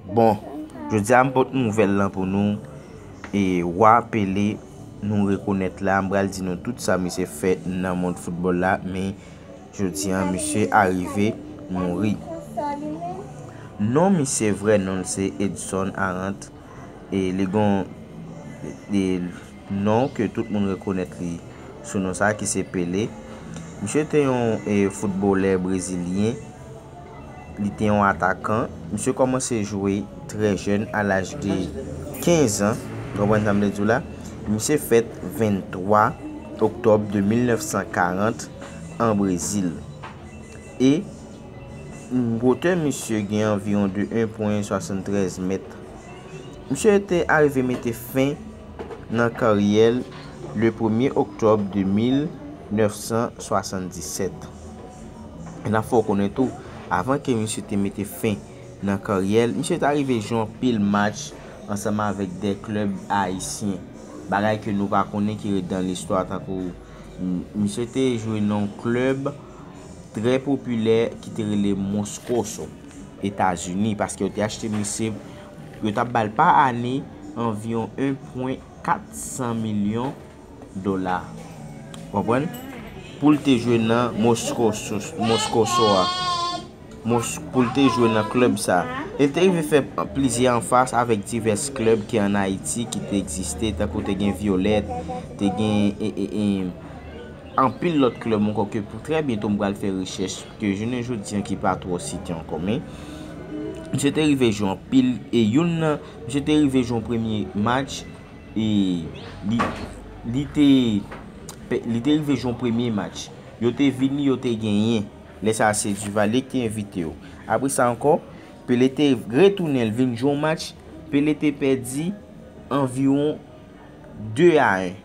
Bon, jodi a m pot nouvèl lan pou nou, e Roi Pelé nou rekonèt la, m pral di nou tout sa misye fè nan mond foutbòl la, men jodi a misye arive mouri. Non misye vrè non l se Edson Arantes, e li gon non ke tout moun rekonèt li sou non sa ki se Pelé. Misye te yon foutbolè brezilyen. Li te yon atakan. Misye kòmanse jwe trè jèn a laj de 15 an. Nou konprann sa m vle di w la? Misye fèt 23 oktòb de 1940 an Brezil. E gwotè misye gen anviwon de 1 pwen 73 mèt. Misye te arive mete fen nan karyè l le premye oktòb de 1977. E n ap fè w konnen tou, avan ke misye te mete fen nan karyè l, misye ta rive jwe anpil match ansanm avèk 2 klèb ayisyen, bagay ke nou pa konnen ki ret dan listwa tankou misye te jwe nan yon klèb trè popilè ki te rele Moscoso, Etazini, paske yo te achte misye, yo t ap ba l pa ane anviwon 1 pwen 400 milyon. dola konprann poul te jwe nan moscosoa poul te jwe nan club sa el te rive fè plizyè anfas avèk divès club ki an ayiti ki te egziste tankou te gen violet te gen anpil lòt club ankò ke pou trè byento m pral fè rechèch ke jounen jodi an ki pa twò site ankò men misye te rive jwe anpil e youn nan misye te rive jwe yon premye match E li te rive jwe yon premye match. Yo te vini, yo te genyen. Lè sa a se Duvalier ki te envite yo. Apre sa ankò, Pelé te retounen, li vin jwe yon match. Pelé te pèdi anviwon 2 a 1.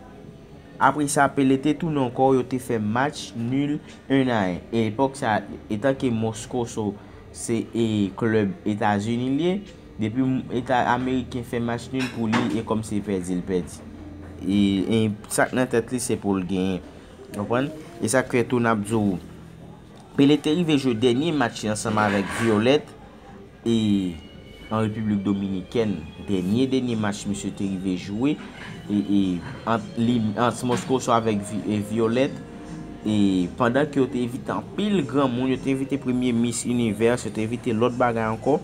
Apre sa, Pelé te tounen ankò, yo te fè match nul 1 a 1. E epòk sa a, etanke Moscoso se klub Etazini li ye, Depi eta ameriken fè match nul pou li e kòm se pèdi l pèdi. E sak nan tèt li se pou l genyen. Konprann? E sak fè tou nap di w Pele te rive jwe dènye match li ansanm avèk Violette e an Repiblik Dominikèn. Dènye dènye match misye te rive jwe e ant li ant Moscoso avèk Violette e pandan ke yo te envite anpil granmoun, yo te envite premye mis univers, yo te envite lòt bagay ankò.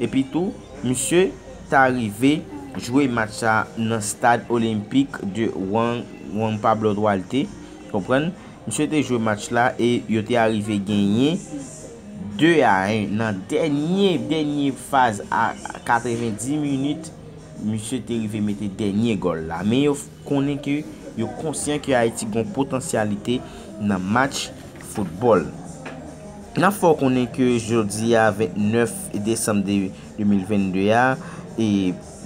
Epi tou, misye ta rive jwe match sa nan stad olenpik de Juan Juan Pablo Duarte, konprann? Misye te jwe match la e yo te arive genyen 2 a 1 nan dènye dènye faz a 90 minit misye te rive mete dènye gòl la men yo konnen ke yo konsyan ke Ayiti gon potansyalite nan match foutbòl. N ap fè w konnen ke jodi a 29 desanm 2022 a,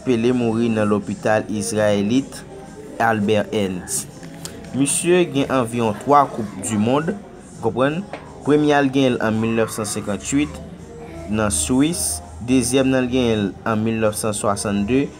Pelé mouri nan lopital izrayelit Albert Ernst. Misye gen anviwon 3 koup du mond, ou konprann, premye a l genyen l an 1958 nan Swis, dezyèm nan l genyen l an 1962